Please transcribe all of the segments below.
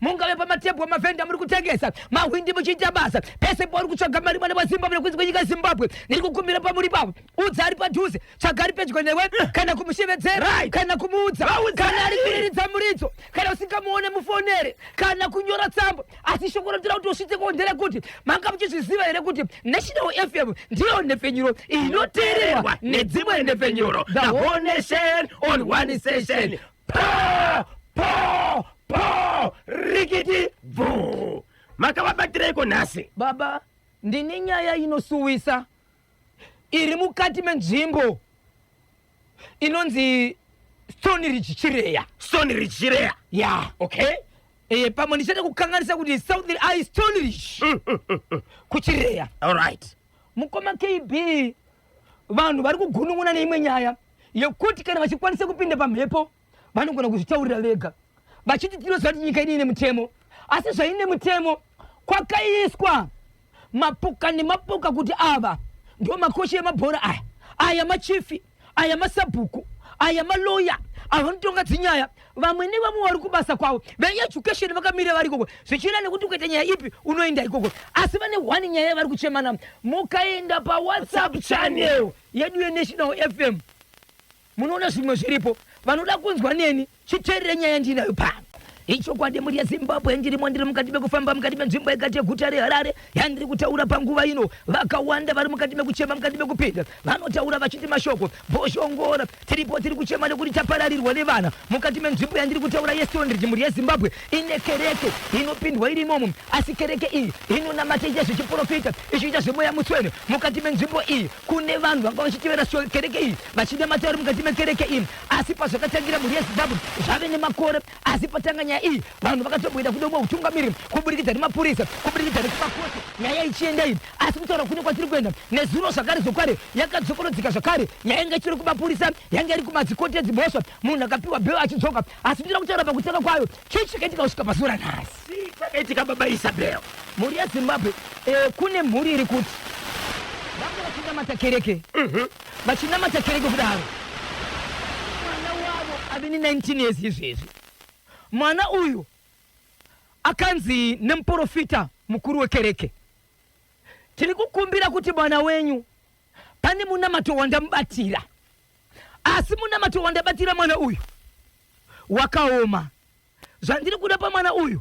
mungave pamatebhu amavhenda muri kutengesa mahwindi muchiita basa pese pauri kutsvaga mari mwana wazimbabwe nekunzi kwenyika zimbabwe ndiri kukumbira pamuri pavo udza ari padhuze tsvaga ari pedyo newe eh. kana kumushevedzera kana kumuudza kana ari kuriridza muridzo kana usingamuone mufonere kana kunyora tsamba asi shoko rotira kuti usvitse ko nderekuti manga muchizviziva here kuti national fm ndiyo nhepfenyuro inoteererwa nedzimwe nhepfenyuro the whole nation on one session Paa! Paa! Paa! Rikiti! Bvuu! Makavabatireiko nhasi? Baba, ndine nyaya inosuwisa iri mukati menzvimbo inonzi Stone Ridge Chireya. Stone Ridge Chireya? Yeah. Okay. Eh, pamwe ndichada kukanganisa kuti South Eye Stone Ridge. Mm, mm, mm, mm. Kuchireya. All right. Mukoma KB Vanhu vari kugunun'una neimwe nyaya yekuti kana vachikwanisa kupinda pamhepo vanogona kuzvitaurira vega vachiti tinoziva kuti nyika ine ine mutemo asi zvaine mutemo kwakaiswa mapoka nemapoka kuti ava ndiwo makosha emabhora aya aya machifi aya masabhuku aya maloya ava vanotonga dzinyaya vamwe nevamwe vari kubasa kwavo veeducation vakamira vari ikoko zvichienda nekuti ukaita nyaya ipi unoenda ikoko asi vane one nyaya yavari kuchemana mukaenda pawhatsapp channel yedu yenational fm munoona zvimwe zviripo vanoda kunzwa neni chiterere nyaya ndinayo pano ichokwadi mhuri yezimbabwe ndirimo ndiri mukati mekufamba mukati menzvimbo yekati yeguta reharare yandiri kutaura panguva ino vakawanda vari mukati mekuchema mukati mekupinda vanotaura vachiti mashoko boshongora Tiripo tiri kuchema nekuti tapararirwa nevana mukati menzvimbo yandiri kutaura yeStonebridge mhuri yeZimbabwe ine kereke inopindwa iri imomo asi kereke iyi inonamata iita zvechiprofita ichiita zvemweya mutswene mukati menzvimbo iyi kune vanhu vanga vachitevera kereke iyi vachinamata vari mukati mekereke iyi asi pazvakatangira mhuri yeZimbabwe zvave nemakore asi patanga nyaya iyi vanhu vakatomboenda kudomwa utungamiriri kuburikidza nemapurisa kuburikidza nekumakosi nyaya ichienda iyi asi kutaura kune kwatiri kuenda nezuro zvakare zvokware yakadzokorodzeka zvakare yainge ichiri kumapurisa yange iri kumadzikoti edzimhosva munhu akapiwa bheo achidzoka asi kutoda kutaura pakutanga kwayo chii chakaitika kusvika pazuva ranhasi chakaitika baba isabel mhuri yezimbabwe eh, kune mhuri iri kuti vange vachinamata kereke mhm. vachinamata kereke kudaro mwana wavo ave ne19 years izvezvi mwana uyu akanzi nemuprofita mukuru wekereke Tiri kukumbira kuti mwana wenyu pane munamato wandamubatira, asi munamato wandabatira mwana uyu wakaoma. Zvandiri kuda pamwana uyu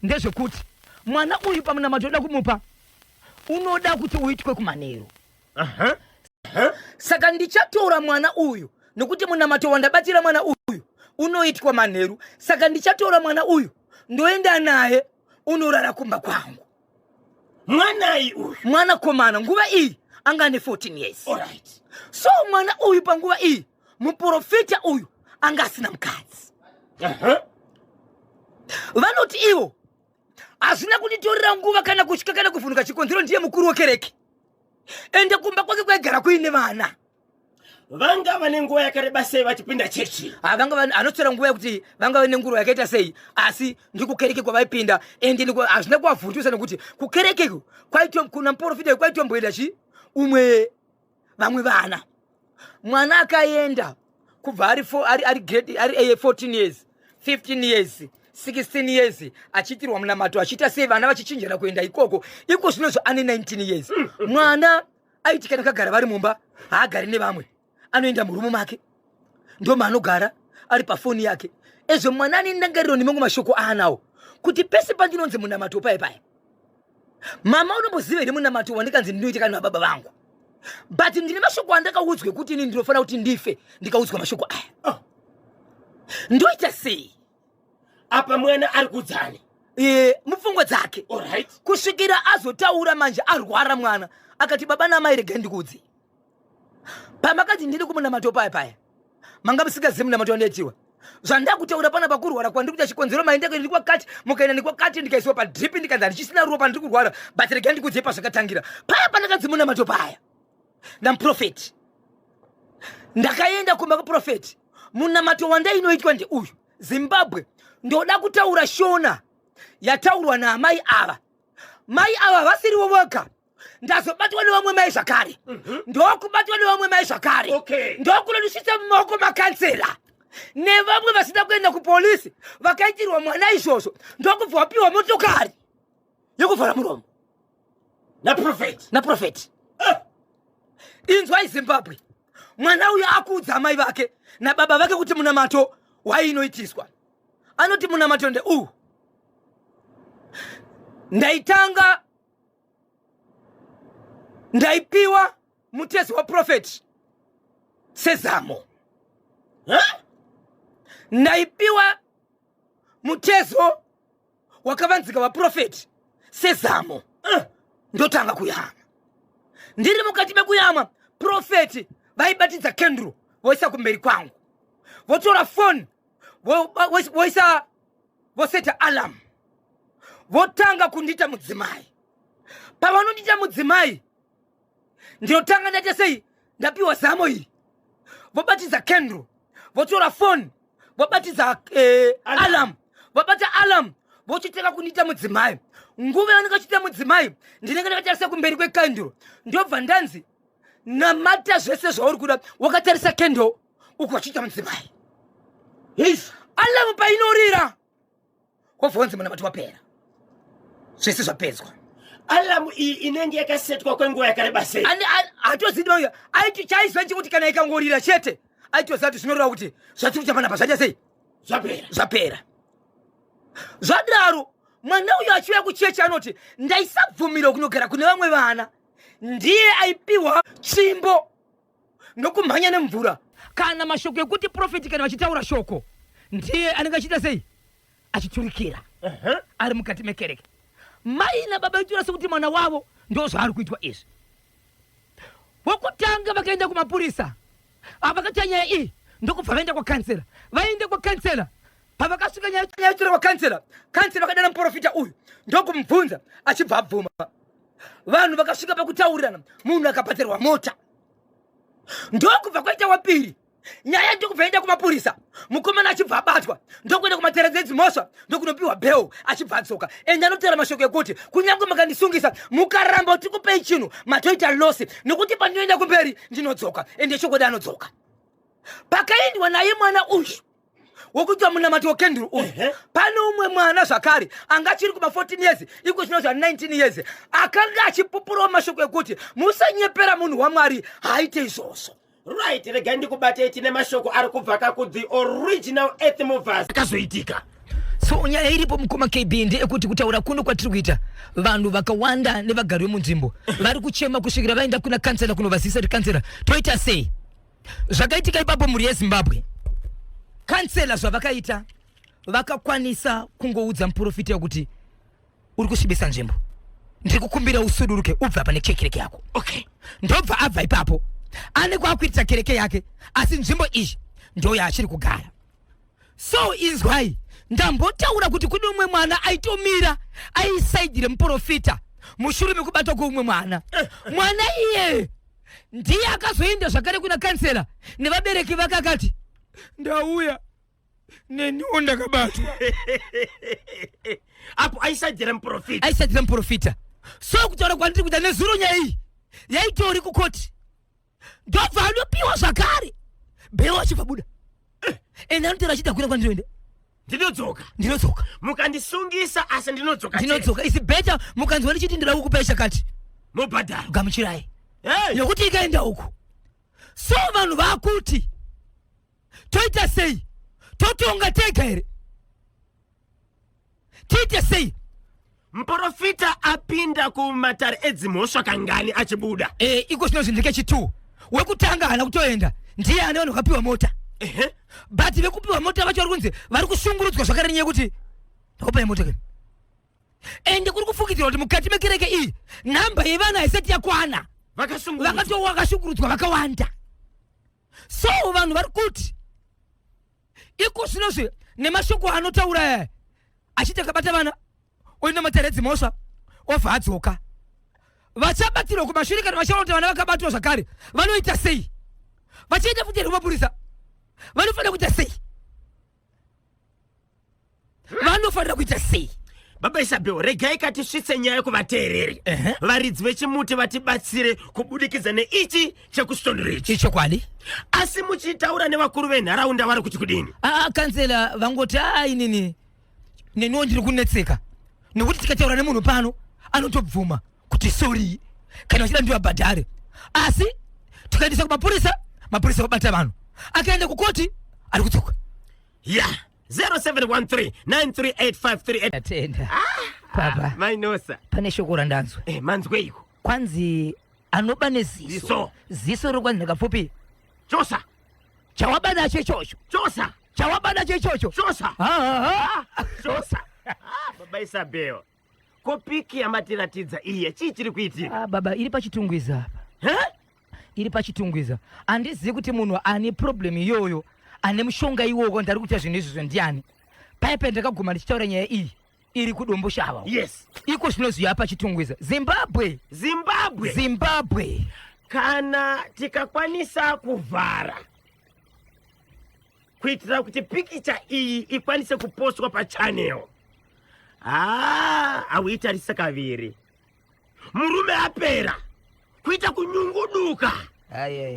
ndezvekuti mwana uyu pamunamato unoda kumupa unoda kuti uitwe kumanheru. uh -huh. uh -huh. Saka ndichatora mwana uyu nokuti munamato wandabatira mwana uyu unoitwa manheru saka ndichatora mwana uyu ndoenda naye unorara kumba kwangu mwanai uyu mwana komana nguva iyi anga ane 14 years Alright. so mwana uyu panguva iyi muprofita uyu anga asina mukadzi Aha. vanoti ivo hazvina kunditorera nguva kana kutya kana kuvhunuka chikonzero ndiye mukuru wekereke ende kumba kwake kwaigara kuine vana vanga vane nguva yakareba sei vachipinda chechi ah, anotora nguva yekuti vanga vane nguva yakaita sei asi ndikukereke kwavaipinda and hazvina ah, kuvavhundusa nekuti kukereke kuna muporofita kwaitomboenda chi umwe vamwe vana mwana akaenda kubva ari 14 years 15 years 16 years achiitirwa munamato achiita sei vana vachichinjana kuenda ikoko iko zvino zvo ane 19 years mm. mwana mm. aiti kana kagara vari mumba haagari nevamwe anoenda murumu make ndo maanogara ari pafoni yake ezvo mwana ane ndangariro nemamwe mashoko aanawo kuti pese pandinonzi munamato paye paye mama unomboziva here munamato wandikanzi ndinoita kana nababa vangu but ndine mashoko andakaudzwa ekuti ini ndinofanira kuti ndife ndikaudzwa mashoko aya oh. ndoita sei apa mwana ari kudzani e, mupfungwa dzake right. kusvikira azotaura manje arwara mwana akati baba namai regai ndikudzi pamakati ndiri kumunamato paya paya manga musikazivi munamato wandaitiwa zvandakutaura pana pakurwara kwandiri kuita chikonzero maendeko ndiri kwakati mukaenda ndikwakati ndikaisiwa padrip ndikanzi handichisina ruwa pandiri kurwara but regai ndikudzei pazvakatangira paya pandakadzi munamato paya ndamuprofeti ndakaenda kumba kuprofeti munamato wandainoitwa ndeuyu zimbabwe ndoda kutaura shona yataurwa naamai ava mai ava vasirivo voga ndazobatwa nevamwe mai zvakare mhm. ndokubatwa nevamwe mai zvakare ndokunodisvitsa mumaoko makansera nevamwe vasina kuenda kupolisi vakaitirwa mwana izvozvo ndokubva wapiwa motokari yekuvhara muromo naprofeti naprofeti eh. inzwai zimbabwe mwana uyo akuudza amai vake nababa vake kuti munamato wai inoitiswa anoti munamato ndeuwu ndaitanga ndaipiwa mutezi waprofeti sezamo ndaipiwa mutezo wakavanzika vaprofeti sezamo uh, ndotanga kuyama ndiri mukati mekuyama profeti vaibatidza kendro voisa kumberi kwangu votora foni voisa voseta alam votanga kundita mudzimai pavanondita mudzimai ndinotanga ndaita sei ndapiwa zamo iri vobatidza kendro votora foni vobatidza eh, alam vobata alam vochitanga kundiita mudzimai nguva yavanenge vachiita mudzimai ndinenge ndakatarisa kumberi kwekandro ndobva ndanzi namata zvese zvauri kuda wakatarisa kendro uku vachiita mudzimai alamu painorira wobva wanzi munamati wapera zvese zvapedzwa alamu iyi inenge yakasetwa kwenguva yakareba sei hatozidi mauya aiti chaiziva chekuti kana ikangorira chete aitoziva kuti zvinoreva kuti zvatiri kuita panapa zvaita sei zvapera zvapera zvadaro mwana uyo achiuya kuchechi anoti ndaisabvumira kunogara kune vamwe vana ndiye aipiwa tsvimbo ndokumhanya nemvura kana mashoko ekuti profeti kana vachitaura shoko ndiye anenge achiita sei achiturikira uh -huh. ari mukati mekereke mai nababa vaitora sekuti mwana wavo ndo zvaari kuitwa izvi wokutanga vakaenda kumapurisa avakatya nyaya iyi ndokubva vaenda kwakansera vaende kwakansera pavakasvika nyaya yatura kwakansera kansera vakadana muprofita uyu ndokumubvunza achibva abvuma vanhu vakasvika pakutaurirana munhu akapatirwa mota ndokubva kwaita wapiri nyaya ndokubva yaenda kumapurisa mukomana achibva abatwa ndokuenda kumatereza edzimhosva ndokunopiwa bheo achibva adzoka ende anotaura mashoko ekuti kunyange makandisungisa mukaramba kuti kupei chinhu matoita losi nekuti pandinoenda kumberi ndinodzoka ende chokwadi anodzoka pakaendwa naye mwana uyu wokuitwa munamati wokenduru uyu pane umwe mwana zvakare anga achiri kuma 14 years iko zvino zva 19 years akanga achipupurawo mashoko ekuti musanyepera munhu wamwari haaite izvozvo right regai ndikubatei tine mashoko ari kubva ka kuthe original earth movers akazoitika so nyaya iripo mukoma kb ndeyekuti kutaura kuno kwatiri kuita vanhu vakawanda nevagari vemunzvimbo vari kuchema kusvikira vaenda kuna kansela kunovazivisa kuti kansela toita sei zvakaitika ipapo mhuri yezimbabwe kansela zvavakaita vakakwanisa kungoudza muprofita kuti uri kusvibisa nzvimbo ndiri kukumbira usuduruke ubva pane chekereke yako okay ndobva abva ipapo ane kwakuitira kereke yake asi nzvimbo iyi ndoyaachiri kugara so inzwai ndambotaura kuti kune umwe mwana aitomira aisaidhi remuprofita mushure mekubatwa kweumwe mwana mwana iye ndiye akazoenda zvakare kuna kansela nevabereki vake akati ndauya neniwo ndakabatwa apo aisaidhira muprofita aisaidhira muprofita so kutaura kwandiri kuda nezuro nyaya iyi yaitori kukoti ndobva anopiwa zvakare bheo achibva buda eh. ende anotera achida kuenda kwandinoenda ndinodzoka ndinodzoka mukandisungisa asi ndinodzoka ndinodzoka isi beta mukanzwa ndichiti ndira kukupai chakati mubhadharo gamuchirai hey. yokuti ikaenda uku so vanhu vakuti toita sei totonga tega here tiite sei muporofita apinda kumatare edzimhosva kangani achibuda e, iko zvinonzi ndekechitwo wekutanga haana kutoenda ndiye ane vanhu vakapiwa mota but vekupiwa mota vacho vari kunzi vari kushungurudzwa zvakare nyaya yekuti ndakupai mota kani ende kuri kufungidzirwa kuti mukati mekereke iyi nhamba yevana haisati yakwana vakatowa vakashungurudzwa vakawanda so vanhu vari kuti iko zvinozvi nemashoko anotaura eh, achiti akabata vana oenda mataredzi mhosva obva adzoka vachabatirwa kumashure kana vachaona kuti vana vakabatwa zvakare vanoita sei vachaita futi here kumapurisa vanofanira kuita sei vanofanira kuita sei baba isabel regai katisvitse nyaya kuvateereri varidzi vechimuti vatibatsire kubudikidza neichi chekusitondero ichi ichokwadi asi muchitaura nevakuru venharaunda vari kuti kudini aa kansela vangoti aa inini neniwo ndiri kunetseka nekuti tikataura nemunhu pano anotobvuma kuti sorry kana vachida ndivabhadhare asi tikaendesa kumapurisa mapurisa vabata vanhu akaenda kukoti ari kudzoka ya yeah. 0713938538 ah, ah, mainosa pane shoko randanzwa eh, manzweiko kwanzi anoba neziso ziso riri kwanzi ndakapfupi chosa chawaba nacho ichocho chosa chawaba nacho ichocho chosa chosa ah, baba isabheo Ko piki yamatiratidza iye chii chiri kuitika? Ah, baba iri pachitungwiza apa. Huh? Iri pachitungwiza. Handizivi kuti munhu ane problem iyoyo ane mushonga iwowo ndari kuita zvinhu izvozvo ndiani. Paya pandakaguma ndichitaura nyaya iyi iri kudombo shava. Yes. Iko zvino zviya pachitungwiza. Zimbabwe. Zimbabwe. Zimbabwe. Kana tikakwanisa kuvhara kuitira kuti pikicha iyi ikwanise kupostwa pachanel haa hauitarise kaviri murume apera kuita kunyunguduka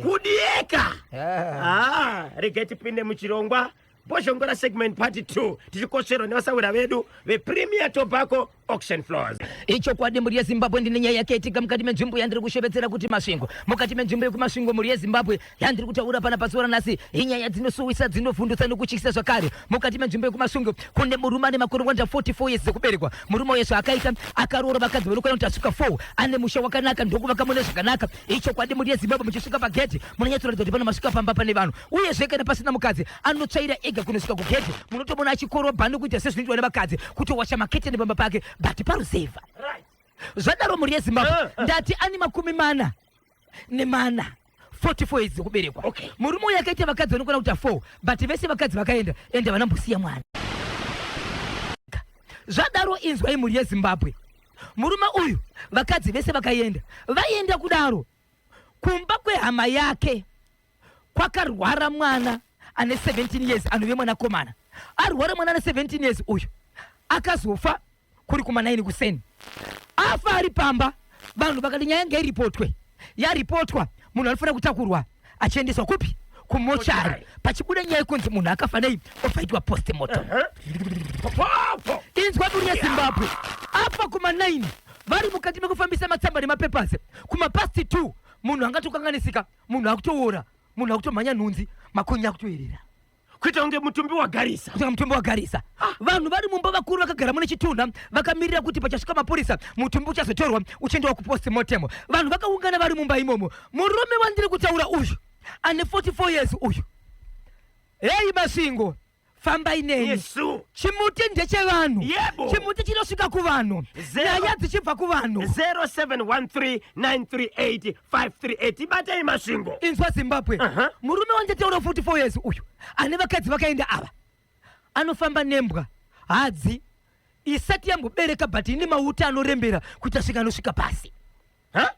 kudieka haa regai tipinde muchirongwa bozhongora segment part 2 tichikotsverwa nevasawira vedu vepremier tobacco auction floors ichokwadi mhuri yezimbabwe ndine nyaya yake itika mukati menzvimbo yandiri kushevedzera kuti masvingo mukati menzvimbo yekumasvingo mhuri yezimbabwe yandiri kutaura pana pazuva ranhasi inyaya dzinosuwisa dzinovhundutsa nokutyisa zvakare mukati menzvimbo yekumasungo kune murume ane makore 144 years dzekuberekwa murume uye zvaakaita akaroora vakadzi vanokwana kuti asvika 4 ane musha wakanaka ndokuvaka mune zvakanaka ichokwadi mhuri yezimbabwe muchisvika pagedhi munonyatsoratidza kuti panomasuka pamba pane vanhu uyezve kana pasina mukadzi anotsvaira ega kunosvika kugedhi munotomona achikorobha nokuita sezvinoitwa nevakadzi kutowasha maketeni pamba pake but paruzevha zvadaro mhuri yezimbabwe eh, eh. ndati ani makumi mana nemana 44 years dzekuberekwa okay. murume uyo akaita vakadzi vanokwana kuita 4 but vese vakadzi vakaenda ende havana mbosiya mwana zvadaro inzwai mhuri yezimbabwe murume uyu vakadzi vese vakaenda vaienda kudaro kumba kwehama yake kwakarwara mwana ane 17 years anove mwanakomana arwara mwana ane 17 years uyu akazofa kuri kuma 9 kuseni afa ari pamba vanhu vakati nyaya yanga iripotwe yaripotwa munhu anofanira kutakurwa achiendeswa kupi kumochari pachibuda nyaya yekunzi munhu akafa nei ofaitwa postmortem inzwa duri yezimbabwe afa kuma 9 vari mukati mekufambisa matsamba nemapapers kuma past 2 munhu angatokanganisika munhu akutoora munhu akutomhanya nhunzi makonye akutoerera kuita kunge mutumbi wagarisa kuita mutumbi wagarisa ah. vanhu vari mumba vakuru vakagara mune chitunha vakamirira kuti pachasvika mapurisa mutumbi uchazotorwa uchiendawa kupost mortem vanhu vakaungana vari mumba imomo murume wandiri kutaura uyu ane 44 years uyu heyi masingo fambai neni chimuti ndechevanhu chimuti chinosvika kuvanhu nyaya dzichibva kuvanhu 07139385 538 ibatei masvingo inzwa zimbabwe Aha. murume wanditaura 44 years uyu ane vakadzi vakaenda ava anofamba nembwa hadzi isati yambobereka but ine mauta anorembera kuita svika anosvika pasi Ha?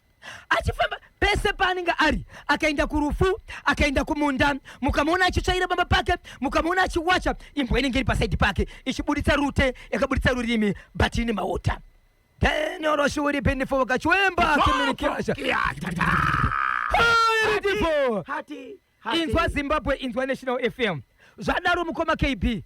achifamba pese paanenge ari akaenda kurufu akaenda kumunda mukamuona achitsvaira bamba pake mukamuona achiwacha imbwa inenge iri pasaidi pake ichiburitsa rute yakaburitsa rurimi but ine mauta Tenyoroshi uri pindifu kachiwemba kiminikirasha. Beautiful. Hati. Hati. Inzwa Zimbabwe inzwa National FM. Zvadaro mukoma KB.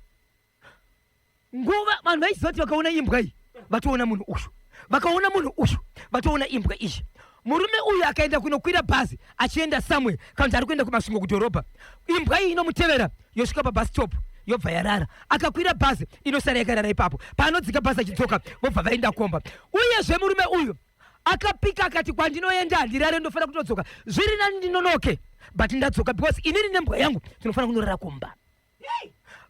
Nguva vanhu vaizoti vakaona imbwa iyi vatoona munhu uyu. Vakaona munhu uyu vatoona imbwa iyi. Murume uyu akaenda kunokwira bhazi achienda somewhere kana kuti ari kuenda kuMasvingo kudhorobha. Imbwa iyi inomutevera yosvika pabus stop yobva yarara. Akakwira bhazi inosara yakarara ipapo. Paanodzika bhazi achidzoka vobva vaenda komba. Uyezve murume uyu akapika akati kwandinoenda handirare ndofanira kutodzoka. Zviri nani ndinonoke but ndadzoka because inini nembwa yangu tinofanira kunorara kumba.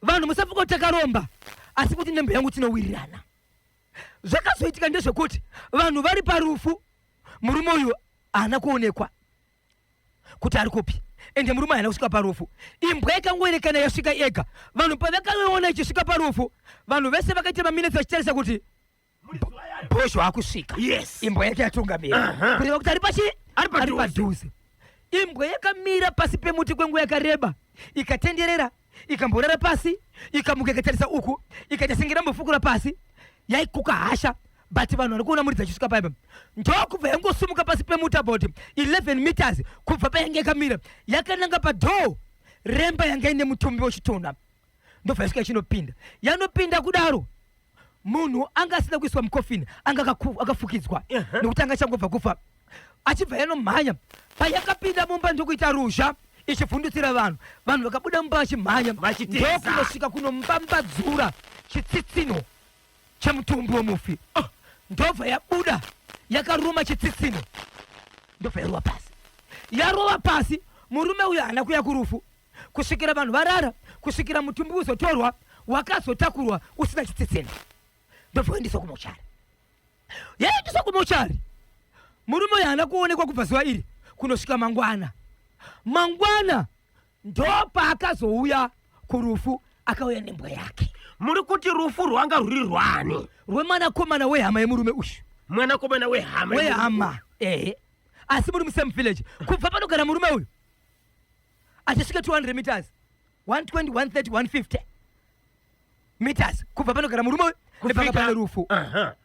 Vanhu musafunga kuti takaromba asi kuti nembwa yangu tinowirirana. zvakazoitika ndezvekuti vanhu vari parufu murume uyu haana kuonekwa kuti ari kupi ende murume haana kusvika parufu imbwa ikangoerekana yasvika yega vanhu pavakaiona ichisvika parufu vanhu vese vakaita maminitsi vachitarisa kuti bhozho akusvika yes imbwa yake yatungamira kureva kuti ari pachi Ari ari padhuze. padhuze Imbwa yakamira pasi pemuti kwenguva yakareba, ikatenderera, ikamborara pasi, ikamuka ikatarisa uku, ikaita senge irambofukura pasi. Yaikuka hasha but vanhu vari kuona muridzi achisvika paipa ndokubva yangosumuka pasi pemuti about 11 meters kubva payange yakamira yakananga padhoo remba yanga ine mutumbi wechitunha ndopfaisika ichinopinda yanopinda kudaro munhu anga asina kuiswa mukofini anga akafukidzwa nekuti anga achangobva kufa achibva yanomhanya payakapinda mumba ndokuita ruzha ichivhundutsira vanhu vanhu vakabuda mumba vachimhanya ndokunosvika kunombambadzura chitsitsino chemutumbi wemufi ah, ndobva yabuda yakaruma chitsitsino ndobva yarova pasi yarova pasi murume uyo haana kuya kurufu kusvikira vanhu varara kusvikira mutumbi uzotorwa wakazotakurwa usina chitsitsina ndovoendeswa kumochari yaendeswa kumochari murume uyo haana kuonekwa kubva zuva iri kunosvika mangwana mangwana ndopaakazouya kurufu akauya nembwa yake muri kuti rufu rwanga rwuri rwani rwemwanakomana wehama yemurume uyu mwanakomana wehama wehama ehe asi muri musame village kubva panogara murume uyu atisvike 200 meters 120 130 150 meters kubva panogara murume uyu nepanga pane rufu Aha.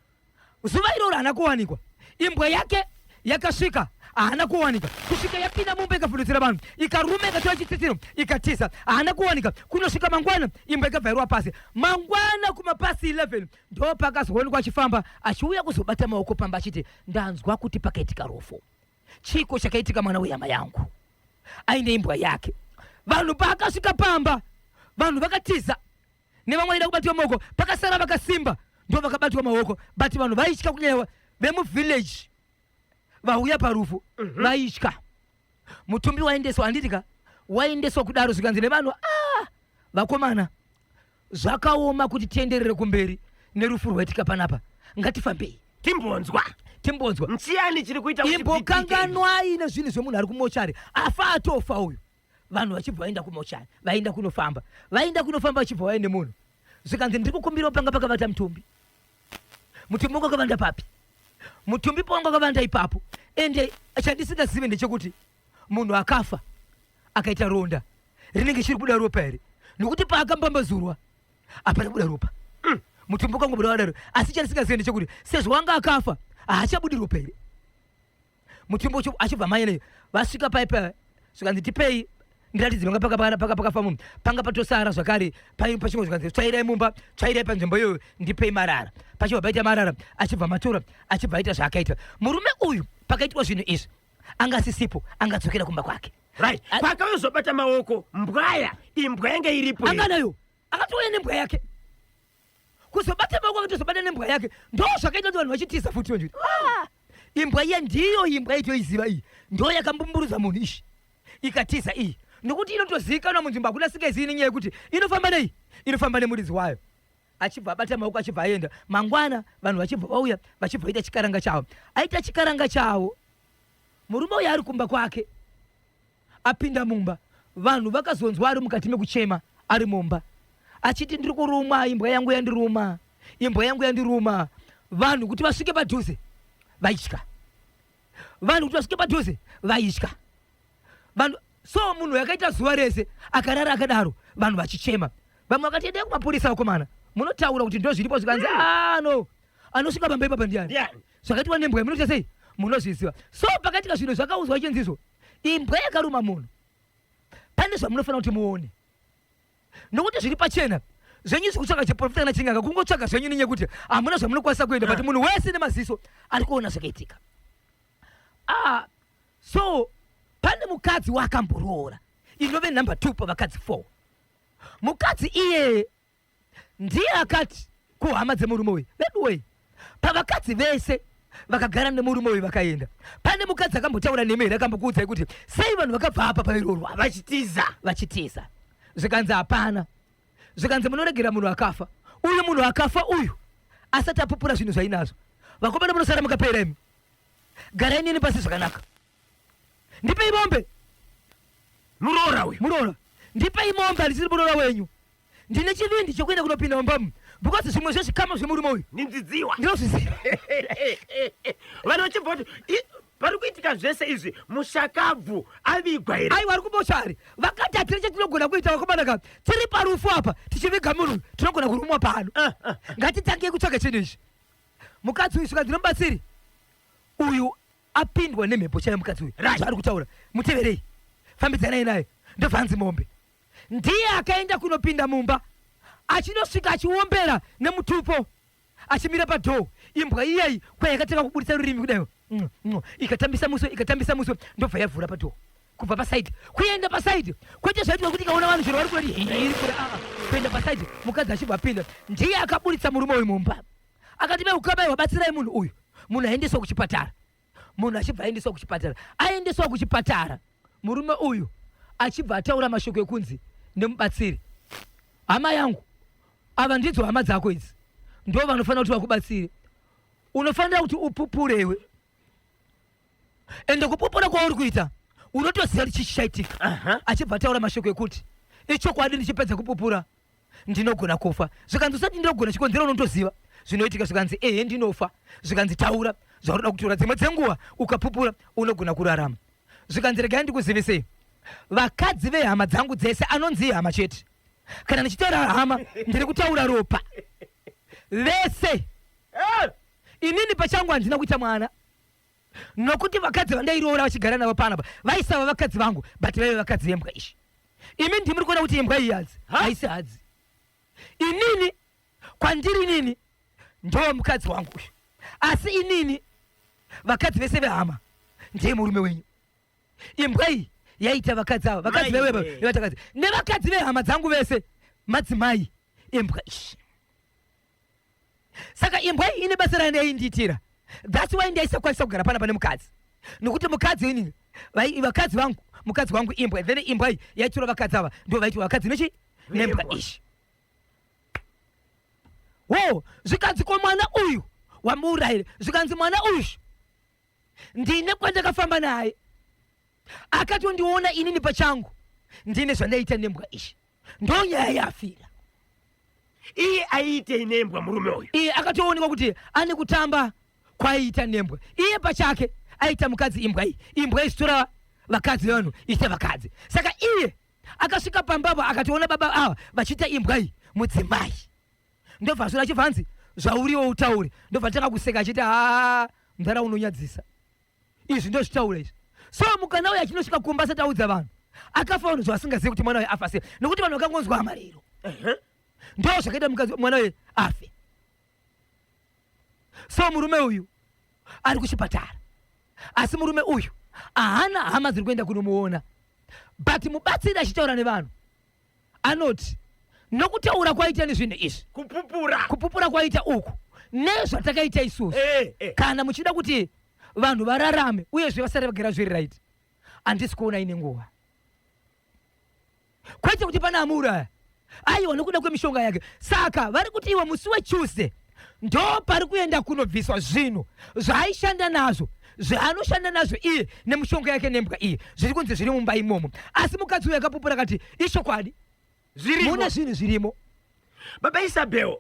zuva iroro haana kuwanikwa imbwa yake yakasvika haana kuwanika kusvika yapinda mumba ikavhundutsira vanhu ikaruma ikatora chitsitsiro ikatiza haana kuwanika kunosvika mangwana imbwa ikabvairwa pasi mangwana kumapasi 11 ndo pakazoonekwa achifamba achiuya kuzobata maoko pamba achiti ndanzwa kuti pakaitika rufu Chiko chakaitika mwana wehama yangu aine imbwa yake. Vanhu paakasvika pamba, vanhu vakatiza nevamwe vaida kubatwa maoko, pakasara vakasimba ndo vakabatwa maoko, but vanhu vaitya kunyanya vemuvillage vauya parufu mhm. vaitya. Mutumbi waendeswa handiti ka waendeswa kudaro zvikanzi nevanhu ah, vakomana Zvakaoma kuti tienderere kumberi nerufu rwaitika panapa. Ngatifambei. Timbonzwa. Timbonzwa. Nchiyani chiri kuita kuti imbokanganwai nezvinhu zvemunhu ari kumochari afa atofa uyu vanhu vachibva vaenda kumochari vaenda kunofamba vaenda kunofamba vachibva vaya nemunhu zvikanzi ndiri kukumbirawo panga pakavata mutumbi mutumbi wanga kavanda papi mutumbi pawanga kavanda ipapo ende chandisingazive ndechekuti munhu akafa akaita ronda rinenge chiri kuda ropa here nokuti paakambambazurwa hapana kuda ropa mm. mutumbi ukangobuda wadaro asi chandisingazive ndechekuti sezvo wanga akafa haachabudi ropa here mutumbi ucho achibva mai neyo vasvika paipa zvikanzi tipei ndiratidzi panga pakafa munhu panga patosara zvakare paimba pachimwe zvikanzi tsvairai mumba tsvairai panzvimbo iyoyo ndipei marara pachibva paita marara achibva matura achibva aita zvaakaita murume uyu pakaitwa zvinhu izvi anga asisipo angadzokera kumba kwake right kwakayozobata maoko mbwaya imbwa yanga iripo anga nayo akatouya nembwa yake kuzobata maoko akatozobata nembwa yake ndo zvakaita kuti vanhu vachitiza futi vanhu ah! imbwa iya ndiyo imbwa itoiziva iyi ndo yakambumburudza munhu ishi ikatiza iyi nokuti inotozivikanwa munzvimbo hakuna singaizivi nenyaya yekuti inofamba nei inofamba nemuridzi wayo achibva abata maoko achibva aenda mangwana vanhu vachibva vauya vachibva vaita chikaranga chavo aita chikaranga chavo murume uyo ari kumba kwake apinda mumba vanhu vakazonzwa ari mukati mekuchema ari mumba achiti ndiri kuruma imbwa yangu yandiruma imbwa yangu yandiruma vanhu kuti vasvike padhuze vaitya vanhu kuti vasvike padhuze vaitya vanhu so munhu yakaita zuva rese akarara akadaro vanhu vachichema vamwe vakati endai kumapurisa vakomana munotaura kuti ndozviripo zvikanzi hmm. ah, no anosvika pamba ipapa ndiani zvakaitwa nembwa yamunoita sei munozviziva so pakaitika zvinhu zvakaudzwa ichinzizvo imbwa yakaruma munhu pane zvamunofanira kuti muone nokuti zviri pachena zvenyu zvekutsvaga chiprofita kana chinganga kungotsvaga zvenyu nenyaya yekuti hamuna zvamunokwanisa kuenda but munhu wese nemaziso ari kuona zvakaitika ah, so pane mukadzi waakamboroora inove number two pavakadzi four mukadzi iyeye ndiye akati kuhama dzemurume uyu veduwei Pavakadzi vese vakagara nemurume uyu vakaenda pane mukadzi akambotaura nemi here akambokuudzai kuti sei vanhu vakabva apa pairorwa vachitiza vachitiza zvikanzi hapana zvikanzi munoregera munhu akafa uyu munhu akafa uyu asati apupura zvinhu zvainazvo vakomana munosara mukapera imi garai nini pasi zvakanaka ndipei mombe muroora uyu muroora ndipei mombe handisiri muroora wenyu ndine chivindi chekuenda kunopinda mumbamu because zvimwe zvezvikama zvemurume uyu ndinzidziwa ndinozviziva vanhu vachibva kuti "I- pari kuitika zvese izvi mushakabvu avigwa here aiwa ari kubosha ari vakati hatiri chatinogona kuita vakomana ka tiri parufu apa tichiviga munhu uyu, tinogona kurumwa pano Ah, ah. ngatitangei kutsvaga chinhu ichi mukadzi uyu svikadzi nomubatsiri uyu Apindwa nemhepo chaiyo mukadzi uyu. Raj ari kutaura. Muteverei. Fambidzanai naye. Ndobva anzi mombe. Ndiye akaenda kunopinda mumba achinosvika achiombera nemutupo achimira padoor imbwa iyeyi kwayakatanga kuburitsa rurimi kudaiwo mm, mm, ikatambisa muswe ikatambisa muswe ndobva yavhura padoor kubva pasaidi kuenda pasaidi kwete zvaitwa kuti ikaona vanhu zviro vari kurati iri kure aa kuenda pasaidi mukadzi achibva apinda ndiye akaburitsa murume uyu mumba akati veukabaiwa batsirai munhu uyu munhu aendeswa kuchipatara munhu achibva aendeswa kuchipatara aendeswa kuchipatara murume uyu achibva ataura mashoko ekunzi nemubatsiri hama yangu ava ndidzo hama dzako idzi ndo vanofanira kuti vakubatsire unofanira kuti upupure iwe ende kupopora kwauri kuita unotoziva kuti chichaitika uh -huh. achibva ataura mashoko ekuti ichokwadi ndichipedza kupupura ndinogona kufa zvikanzi usati ndinogona chikonzero unotoziva zvinoitika zvikanzi ehe ndinofa zvikanzi taura zvaunoda kutura dzimwe dzenguva ukapupura unogona kurarama zvikanzi regai ndikuzivisei vakadzi vehama dzangu dzese anonzi ihama chete kana ndichitaura hama ndiri kutaura ropa vese eh! inini pachangu handina kuita mwana nokuti vakadzi vandairoora vachigara navo panapa vaisava vakadzi vangu but vaive vakadzi vembwa izvi imi ndimuri kuona kuti imbwa iyi hadzi haisi hadzi inini kwandiri inini ndowo mukadzi wangu uyu asi inini vakadzi vese vehama ndiye murume wenyu imbwa iyi yaita vakadzi ava vakadzi vewevatakadzi nevakadzi vehama dzangu vese madzimai imbwa iyi saka imbwa iyi ine basa rayo yaindiitira thats why ndaisakwanisa kugara pana pane mukadzi nokuti mukadzi ini vakadzi vangu mukadzi wangu imbwa then imbwa iyi yaitura vakadzi ava ndo vaiti vakadzi nechi nembwa ishi wo zvikanzi ko mwana uyu wamuurayire zvikanzi mwana uyu ndine kwandakafamba naye akatondiona inini pachangu ndine zvandaita nembwa ishi ndonyaya yafira iye aiite inembwa murume uyu iye akatoonekwa kuti ane kutamba kwaiita nembwa iye pachake aita mukadzi imbwa iyi imbwa isitora vakadzi vevanhu iite vakadzi saka iye akasvika pambavo akatoona baba ava vachiita imbwa iyi mudzimai ndobva zvona chibva hanzi zvauriwo utaure ndobva tanga kuseka achiti haa mdhara unonyadzisa izvi ndozvitaura izvi so mukana uyo achinosvika kumba asati audza vanhu akafa vanhu zvasingazivi kuti mwana uyo afa sei nokuti vanhu vakangonzwa amariro ndo zvakaita mukadzi mwana uyo afe so murume uyu ari kuchipatara asi murume uyu ahana hama dziri kuenda kunomuona but mubatsiri achitaura nevanhu anoti nokutaura kwaita nezvinhu izvi kupupura kupupura kwaita uku nezvatakaita isusu eh, eh. kana muchida kuti vanhu vararame uyezve vasare vagara zviri right handisi kuona ine nguva kwete kuti pana amuuraya aiwa nokuda kwemishonga yake saka vari kuti iwe musi wetuesday ndo pari kuenda kunobviswa zvinhu zvaaishanda nazvo zvaanoshanda nazvo iye nemushonga yake nembwa iye zviri kunzi zviri mumba imomo asi mukadzi uyo akapupura kati ichokwadi zvirimo mune zvinhu zvirimo baba isabel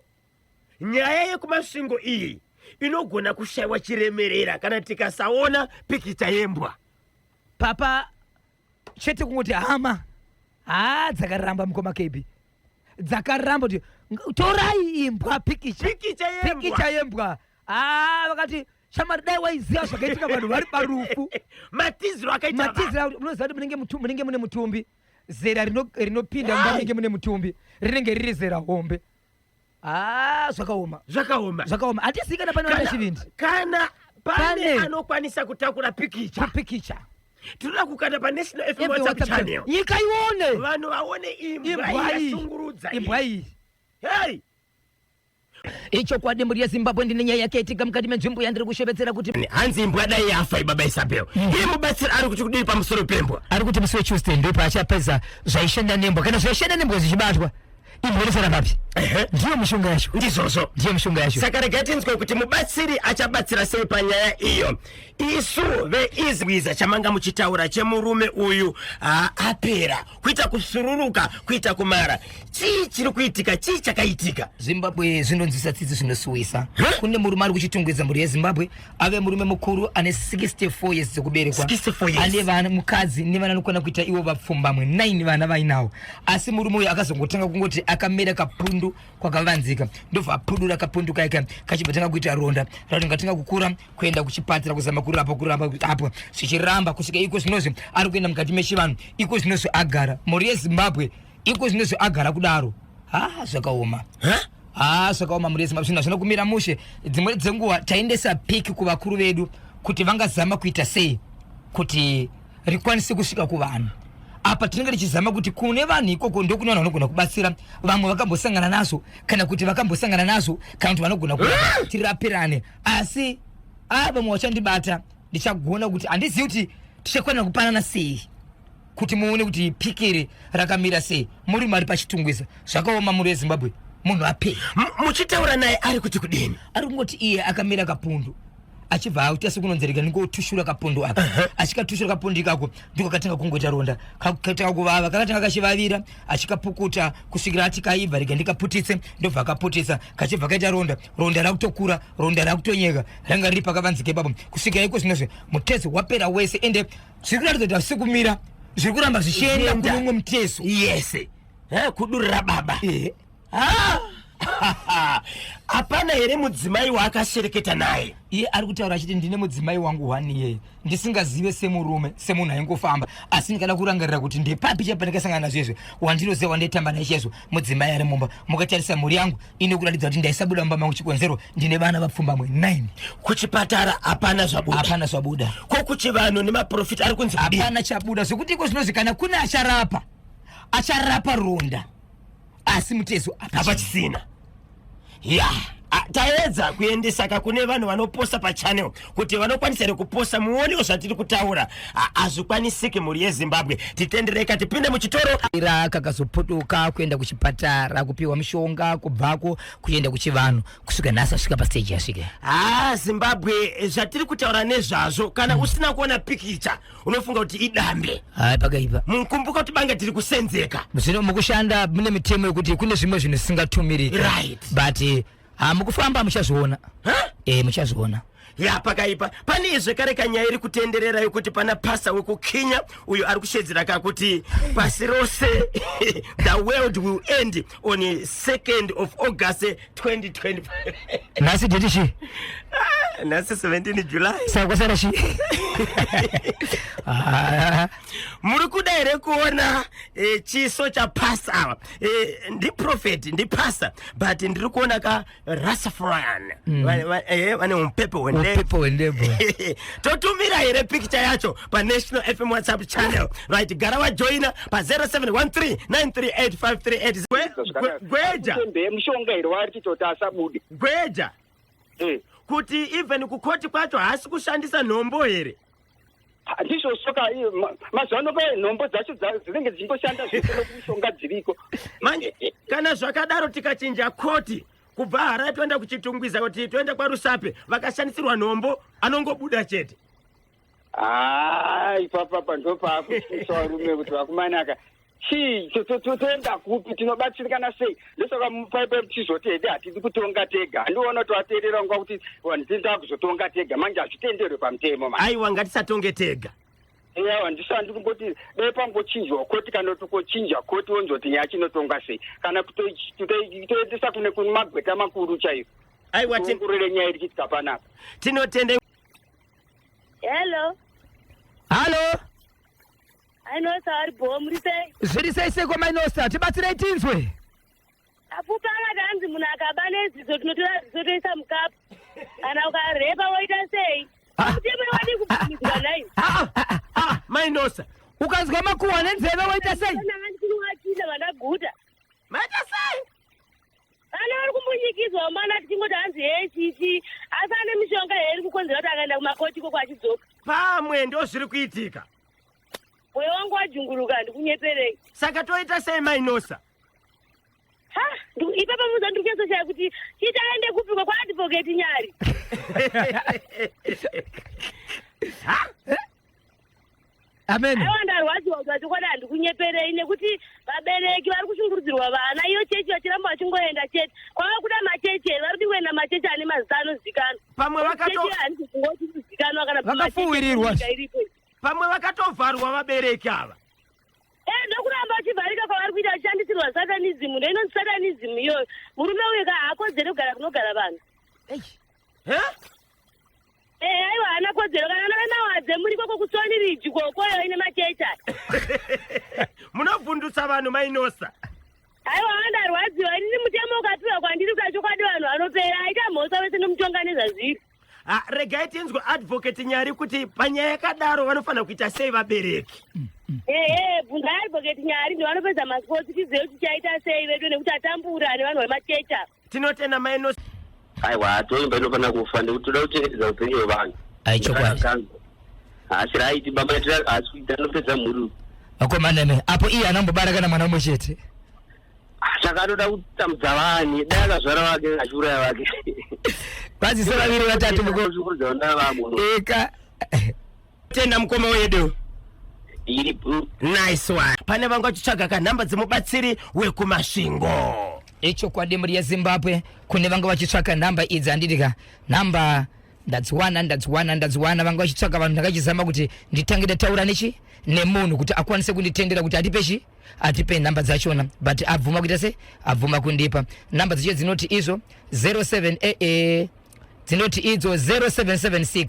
nyaya yekumasvingo iyi inogona kushaiwa chiremerera kana tikasaona pikicha yembwa papa chete kungoti hama haa dzakaramba mukoma kebi dzakaramba kuti torai imbwa pikicha pikicha yembwa, pikicha yembwa. Aa, vakati shamari dai waiziva zvakaitika vanhu vari parufu matiziro akaita matiziro unoziva kuti munenge mutumbi munenge mune mutumbi zera rinopinda mumba munenge mune mutumbi rinenge riri zera hombe haa ah, zvakaoma zvakaoma zvakaoma hatisi kana pane vana chivindi kana pane anokwanisa kutakura pikicha pikicha tinoda kukanda panational fm whatsapp channel nyika ione vanhu vaone imbwa yasungurudza imbwa iyi hei ichokwadi mburi yezimbabwe ndine nyaya yake itika mukati menzvimbo yandiri kushevedzera kuti hanzi imbwa dai yafa ibaba isabel mm. iye mubatsiri ari kuti kudii pamusoro pembwa ari kuti musi wetuesday ndipo achapedza zvaishanda nembwa kana zvaishanda nembwa zvichibatwa imhoresera bapi Ehe. ndiyo mishonga yacho ndizvozvo ndiyo mishonga yacho saka regai tinzwe kuti mubatsiri achabatsira sei panyaya iyo isu veizwiza chamanga muchitaura chemurume uyu ah, apera kuita kusururuka kuita kumara chii chiri kuitika chii chakaitika zimbabwe zvinonzwisa tsitsi zvinosuwisa Huh? kune murume ari kuchitungwidza mhuri yezimbabwe ave murume mukuru ane 64 years dzekuberekwa ane vana mukadzi nevana anokwana kuita ivo vapfumbamwe 9 vana vainawo asi murume uyo akazongotanga kungoti akamera kapundu kwakavanzika ndobva apudura kapundu kaika kachibva tanga kuita ronda ratonga tanga kukura kuenda kuchipatira kuzama kurapa kurapa apo zvichiramba kusvika iko zvinozvi ari kuenda mukati mechivanhu iko zvinozvi agara mhuri yezimbabwe iko zvinozvi agara kudaro ha zvakaoma huh? haa zvakaoma murezi mabsvina zvinokumira mushe dzimwe dzenguva taendesa piki kuvakuru vedu kuti vangazama kuita sei kuti rikwanise kusvika kuvanhu apa tinenge tichizama kuti kune vanhu ikoko ndokune vanhu vanogona kubatsira vamwe vakambosangana nazvo kana kuti vakambosangana nazvo kana kuti vanogona kuti eh! tirapirane asi a vamwe vachandibata ndichagona kuti handizivi kuti tichakwanira kupanana sei kuti muone kuti piki iri rakamira sei murume ari pachitungwiza zvakaoma muri wezimbabwe munhu apei muchitaura naye ari kuti kudini ari kungoti iye akamira kapundu achibva auta sekunonzereka ndingotushura kapundu aka uh -huh. achikatushura kapundu ikako ndiko katanga kungoita ronda katanga kuvava kakatanga kachivavira achikapukuta kusvikira ati kaibva rega ndikaputitse ndobva akaputisa kachibva kaita ronda ronda rakutokura ronda rakutonyeka ranga riri pakavanzika ipapo kusvikira iko zvinozve mutezo wapera wese ende zviri kuratidza kuti hazvisi kumira zviri kuramba zvichienda kune umwe mutezo yese kudurira baba hapana here mudzimai waakashereketa naye iye ari kutaura achiti ndine mudzimai wangu hwani iyeye ndisingazive semurume semunhu aingofamba asi ndikada kurangarira kuti ndepapi chepandikasangana nazvo izvi wandinoziva wandaitamba naye chaizvo mudzimai ari mumba mukatarisa mhuri yangu ine kuratidza kuti ndaisabuda mumba mangu chikonzero ndine vana vapfumbamwe 9 kuchipatara hapana zvabuda hapana zvabuda ko kuchivanhu nemaprofita ari kunzi kudii? hapana chabuda zvekuti iko zvinonzi kana kune acharapa acharapa ronda asi mutezo hapachisina ya taedza kuendesa ka kune vanhu vanoposta pachannel kuti vanokwanisa here kuposta muonewo zvatiri kutaura hazvikwanisiki mhuri yezimbabwe titendereka tipinde muchitoro ira kakazopotoka kuenda kuchipatara kupiwa mushonga kubvako kuenda kuchivanhu kusvika nhasi asvika pasteji yasvike ha zimbabwe zvatiri kutaura nezvazvo kana mm. usina kuona pikicha unofunga kuti idambe hai pakaipa mukumbuka kuti bange tiri kusenzeka zvino mukushanda mune mitemo yekuti kune zvimwe zvinhu zvisingatumiriki right. but eh, ah, mukufamba muchazviona e muchazviona ya pakaipa pane izve kare kanyaya iri kutenderera yokuti pana pasa wekukinya uyo ari kushedzera kakuti pasi rose the world will end on 2nd of august 2025 nhasi date chi ah, nhasi 17 july saka kwasara chi ah. muri kuda here kuona eh, chiso chapasa ava eh, ndiprofet ndipasa but ndiri kuona ka rasafran mm. vane eh, mupepo wendebho totumira here pikicha yacho panational fm whatsapp channel right gara wajoina pa 0713938538 gweja mushonga here waari titoti asabude gweja eh. kuti even kukoti kwacho haasi kushandisa nhombo here ndizvo soka mazuva ano pa nhombo dzacho dzinenge dzichingoshanda zvese nokushonga dziriko manje kana zvakadaro tikachinja koti kubva harai toenda kuchitungwiza kuti toenda kwarusape vakashandisirwa nhombo anongobuda chete haa ah, ipapapa ndopaakutyisa varume kuti vakumanaka chii toenda kupi tinobatsirikana sei ndosaka paipai tichizoti hede hatidi kutonga tega handiona kuti vateerera nguva kuti vanhu tindaa kuzotonga tega manje hazvitenderwe pamutemo aiwa ngatisatonge tega eya handisandi kungoti dai pangochinjwa koti kana kuti kochinja koti wonzwa kuti nyaya chinotonga sei kana kutoendesa kune kune magweta makuru chaiyo aiwa tingurire nyaya iri chitika panapa tinotende Hello. Halo. Ainosa ari bho muri sei? Zviri sei sei kwa Mainosa? Tibatsirei tinzwe. Apupa akati hanzi munhu akaba neziso tinotora ziso toisa mukapu. Kana ukarepa woita sei? Kuteme wadi kubvumizwa nai. Ah ah ah Mainosa. Ukanzwa makuwa nenzeve woita sei? Ndanga ndikuwatinda vandaguta. Maita sei? vana vari kumbunyikidzwa mumana tichingoti hanzi hee chichi asi ane mishonga here iri kukonzera kuti akaenda kumakoti ikoko achidzoka pamwe ndo zviri kuitika moyo wangu wajunguruka handikunyeperei saka toita sei mainosa ha ndi- ipapa muza ndiri kuesoshaya kuti chiti aende kupiko kwaadvocate nyari ha amen aiwa ndarwadziwa kuti vachokwadi handikunyeperei nekuti vabereki vari kushungurudzirwa vana iyo chechi vachiramba vachingoenda chete kwava kuda machechi here vari kuti kuenda machechi ane mazita anozikanwa pamwe vakato handizikanwa kana vakafuwirirwa pamwe vakatovharwa vabereki ava ee ndokuramba vachivharika kwavari kuita vachishandisirwa satanizimu ndoinonzi satanizimu iyoyo murume uyu ka haakodzere kugara kunogara vanhu Eh, aiwa haana kodzero kana anove mawadze muri koko kusoni ridzi kokoyo ine machecha munovhundutsa vanhu mainosa aiwa andarwadziwa inini mutemo ukapiwa kwandiri kuda chokwadi vanhu vanopera aita mhosva vese nomutonga nezvazviri Ah, regai tinzwe advocate nyari kuti panyaya yakadaro vanofanira kuita sei vabereki ehe bvunzai advocate nyari ndivanopedza masports tizive kuti tichaita sei vedu nekuti atambura nevanhu vemachecha tinotenda mai nos aiwa toimba inofanira kufa nekuti toda kuchengetedza upenyu hwevanhu ai chokwadi haasi raiti baba haasi kuita anopedza mhuri vakomaneme apo iye anambobara kana mwana umwe chete saka anoda kutambudza vanhu dai akazvara vake achiuraya vake vazise vaviri vatatu mukuuza vana vamwe eka tenda mukoma wedu Ndiri bro. nice one pane vanga uchitsvaga kanhamba dzemubatsiri wekumasvingo ichokwadi mhuri yezimbabwe kune vanga vachitsvaka nhamba idzi handiti ka nhamba ndadziwana ndadziwana ndadziwana vanga vachitsvaka vanhu ndakachizama kuti nditange ndataura nechi nemunhu kuti akwanise kunditendera kuti atipe chi atipe nhamba dzachona but abvuma kuita se abvuma kundipa nhamba dzacho dzinoti izvo 07 eh, eh, dzinoti idzo 0776